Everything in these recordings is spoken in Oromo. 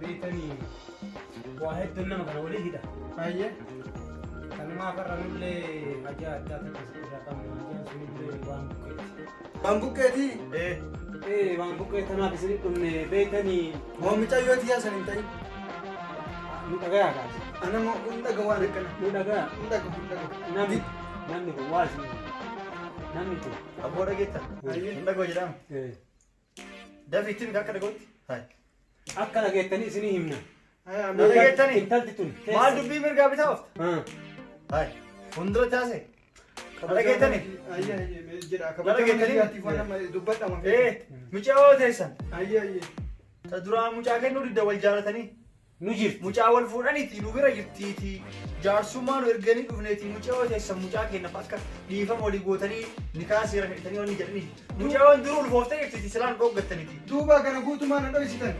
beektanii waa hedduun nama kana walii hidha. Baay'ee kanumaa farra nullee hajaa addaa takka isa irraa qabna hajaan sunillee waan buqqeeti. Waan buqqeetii? Ee. Ee waan buqqee tanaaf isin dhumne beektanii. Moo micayyoo tiyyaa san hin ta'in. Nu dhagayaa kaasa. Ana moo kun dhaga waan akkana. Nu dhagaa. Nu dhaga kun dhaga. Namni namni kun waa isin namni kun. Abboo dhageettan. Hin dhagoo jedhama. Ee. Dafi itti miti akka dhagootti. Hai. Akka dhageettanii isinii himna. Na dhageettanii? Intalti tun. Maal dubbii mirgaa bitaa oofta? Ah. Hai. Fuuldura taasee. Na dhageettanii? Ayyee ayyee mee jedha Bara kabajama geettanii? biyyaatiif waan amma dubbadha mafi. Ee, mucaa hoo teessan. Ayyee ayyee. Ta duraa mucaa kennuu didda wal jaalatanii. nu jirti. Mucaa wal fuudhaniiti nu bira jirtiiti. Jaarsummaa nu erganii dhufneeti mucayoo teessan mucaa keennaaf akka dhiifama walii gootanii nikaa seeran hidhatanii wanni jedhaniiti. Mucayoon duruu ulfooftee jirtiiti silaa nu dhooggattaniti. Duuba kana guutumaa na dhoysitan.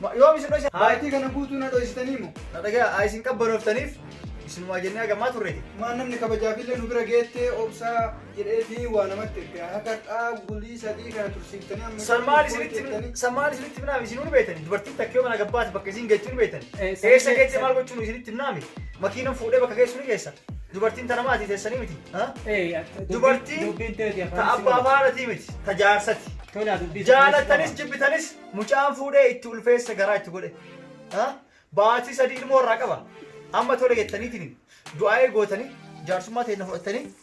Ma- Yoom isin dhoyse? Haayitii kana guutuu na dhoysitanii mo. Na dhagayaa haa isin qabbanooftaniif isinumaa jennee hagamaa turre. Maan namni kabajaafiillee nu bira geettee obsaa. jedhee diin waa namatti erge haka xaa bulii sadii kana tursiiftanii amma San maal isinitti jettanii- san maal isinitti himnaami isin nu beektani dubartiin takka yoo mana gabbaate bakka isin geessu nu beektani Eh, san- eessa geesse maal gochuun isinitti himnaami makiinan fuudhee bakka geessu ni geessa dubartiin tana maati teessanii miti ha? dubartiin dubbiin teeti ta afaan abbaa faanatii miti ta jaarsati tolaa dubbii jaalattanis jibbitanis mucaan fuudhee itti ulfeessa garaa itti godhe Ha? baatii sadii ilmoo irraa qaba amma tole jettaniitiin du'aa'ee gootanii jaarsummaa teenya fudhattanii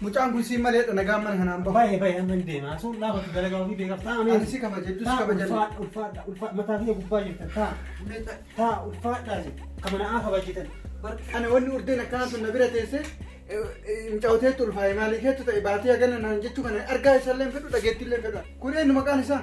Mucaan kun siin malee dha nagaan mana kanaan bahu. Baay'ee baay'ee amma hin deema. Sun dhaabatu dalagaa ofii beekaa taa'ame. Ani si kabajadhu si Taa kabajadhu. ulfaadha ulfaadha ulfaadha mataa biyya gubbaa jirtan taa taa ulfaadha isin kan manaa kabajitan. Ana wanni urdeen akkanaa sun na bira teessee mucawteetti ulfaa'e maalii keetu ta'e baatee hagana naan jechuu kana argaa isaallee hin fedhu dhageettii illee hin fedhu. Kun eenyu maqaan isaa?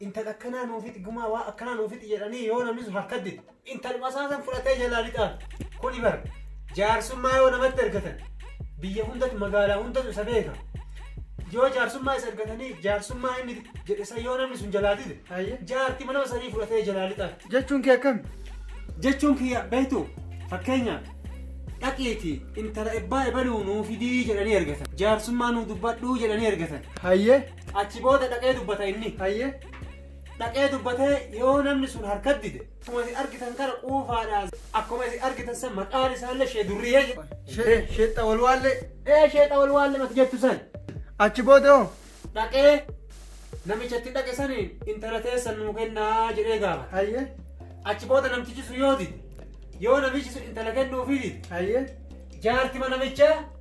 Intal akkanaa nuu fixi gumaa waa akkanaa nuu fixi jedhanii yoo namni sun harka dide. Intaluma isaa san fudhatee jalaa lixaan. Kuni bar jaarsummaa yoo namatti argatan biyya hundatu magaalaa hundatu isa beeka. Yoo jaarsummaa isa argatanii jaarsummaa inni jedhe san yoo namni sun jalaa dide. Ayye. Jaarti manama sanii fudhatee jalaa lixaan. Jechuun kee akkami? Jechuun kiyya beektu fakkeenyaaf dhaqiiti intala ebbaa ebaluu nuu fidii jedhanii argatan. Jaarsummaa nuu dubbadhuu jedhanii argatan. Hayyee. Achi booda dhaqee dubbata inni. Hayyee. Dhaqee dubbatee yoo namni sun harkat dide. Akkuma isin argitan kana quufaadhaan. Akkuma isin argitan san maqaan isaallee shee durriyee jedha. Shee sheexxa wal waallee. Ee sheexa wal waallee mati jettu san. Achi booda hoo. Dhaqee namichatti dhaqe saniin intala teessan nuu kennaa jedhee gaafata. Hayyee. Achi booda namtichi sun yoo dide. Yoo namichi sun intala kennuufii dide. Hayyee. Jaartima namichaa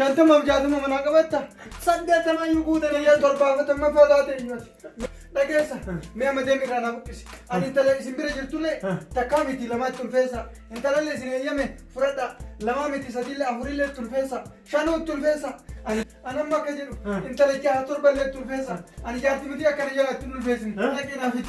shantamaaf jaatama manaa qabatta saddeettamaa iyyuu guute nayyaa torbaafatama faataate iyyuuti dhageessa mee amma deemi irraa naa buqqisi ani intala isin bira jirtullee takkaa miti lamaatti tulfeessa intalallee isin eeyyame fudhadha lamaa miti sadiillee afurillee tulfeessa shanuu tulfeessa ani ani amma akka jedhu intala jaha torballee tulfeessa ani jaarti miti akkana jalaatti tulfeessin dhaqee naa fidi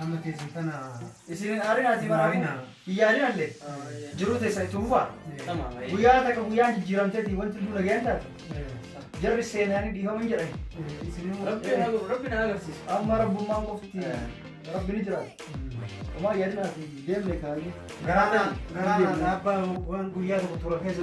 Amma teessan tana isin hin aarinaa isin aarinaa hin yaadinalle jiruu teessan itti fufaa guyyaa takka guyyaan jijjiiramteeti wanti duuna ga'een taate jarri seenaanii dhiifaman jedhan rabbi haa godhu rabbi na agarsiisu amma rabbummaan qofti rabbi ni jiraata homaa yaadinaati deemne kaayee garaanaa garaanaa abbaa waan guyyaa tokko tura keessa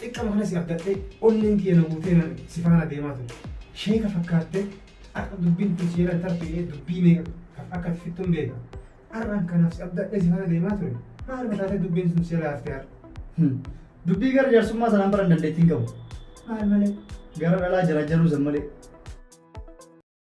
Xiqqama kana si abdadhee onneen tiyya na guutee nan si faana deemaa ture. Sheeka fakkaattee har'a dubbiin tun si jalan tartu jedhee dubbii meeqa kaf akka ati fixxun beeka. Har'aan kanaaf si abdadhee si faana deemaa ture. Maaluma taatee dubbiin sun si jalaa haftee har'a. Hum. Dubbii gara jaarsummaa sanaan baran dandeettii hin qabu. Maal malee? Gara dhalaa jarajjaruu san malee.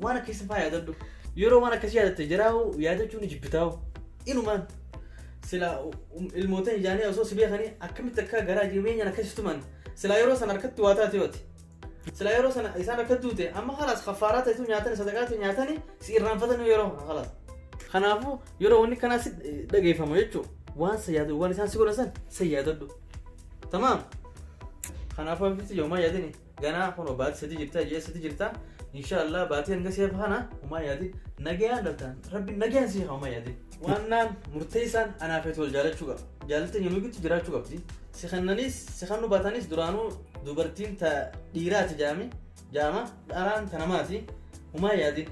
Waan akkasii faa yaadadhu. Yeroo waan akkasii yaadatte jiraa'u yaadachuu ni jibbitaa'u. Inumaan sila um- ilmootan ijaanii osoo si beekanii akkamitti akka garaa jireenyaan akkasii tuman sila yeroo sana harkatti waa taate yooti. Sila yeroo sana isaan akka duute amma halaas kaffaaraa ta'etu nyaatani sadaqaa ta'e nyaatani si irraanfatanii yeroo halaas. Kanaafuu yeroo wanni kanaa si dhageeffamu jechuun waan sa yaadu waan isaan si godhan san sa yaadadhu. Tamaam. Kanaafuu abbitti yoomaa yaadini. ganaa kuno baati sadi jirta ji'a sadi jirta insha Allah baati hanga siya fahana uma yaadin nagayaan dhaltaan rabbi nagayaan siya uma yaadin waannaan murteessaan anaa feetu wal jaalachuu qaba jaalatteen yommuu gitti jiraachuu qabdi si kennanis si kennu baatanis duraanuu dubartiin ta dhiiraati jaami jaama dharaan ta namaati uma yaadin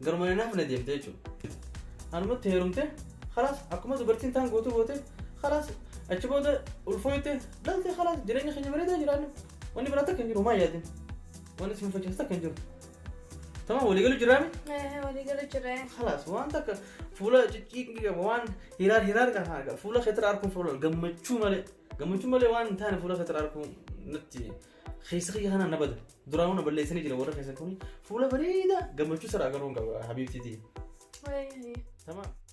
garuma hin hafne deemte jechuudha anumatti heerumte kalaas akkuma dubartiin taan gootu goote kalaas achi booda ulfooyte dhalte kalaas jireenya keenya bareedaa jiraannu Wanni biraa takka hin jiru maa yaadin. Wanni si mufachiisu takka hin jiru. Tamam walii galu jiraame. Walii galu jiree. Kalaas waan takka fuula cicciiqni qaba waan hiraar hiraar qaba fuula keetira arguun fuula gammachuu malee gammachuu malee waan hin taane fuula keetira arguun natti keessa kiyya kanaan na bada duraanuu na balleessanii jira warra keessa kuni fuula bareeda gammachuu sara agaruun qaba habiibtiitii. Tamam.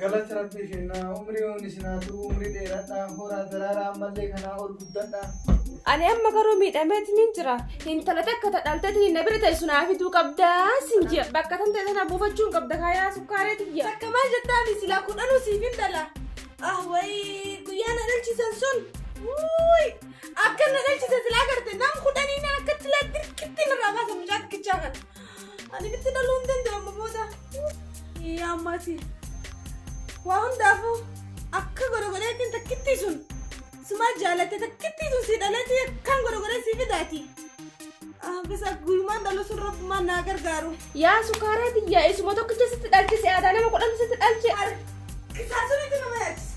Galata rabbii kennaa umrii wani sinaa turuu umrii dheeradhaa horaa daraaraa ammallee kanaa ol guddadhaa. Ani amma garuu miidhameetiin hin jira. Intala takka ta dhalteetiin na bira teessu naa fiduu qabdaa sin jira. Bakka tan ta'e sana buufachuun qabda kaayaa sukkaaree tiyya. Takka maal jettaan silaa kudhanuu siif hin dhala. Ah wayii guyyaa na dhalchisan sun. Wuuy akka na dhalchisan silaa garte nam kudhanii na akkatti laa dirqitti narraa baasa mucaa xiqqichaa kana. Ani bitti dhaluu hin danda'u amma booda. Yaa ammaati. Waa hundaafuu akka gorogoraatiin takkittii sun sumaa jaalatte takkittii sun si dhaleetii akkaan gorogoree si fidaati. Ah, Bisa guyyumaan dhalu sun rabbumaan naa gargaaru. Yaa sukaaraa biyyaa isuma tokkicha sitti dhalche si aadaa nama kudhan sitti dhalche. Kisaa sunitti nama yaachisa.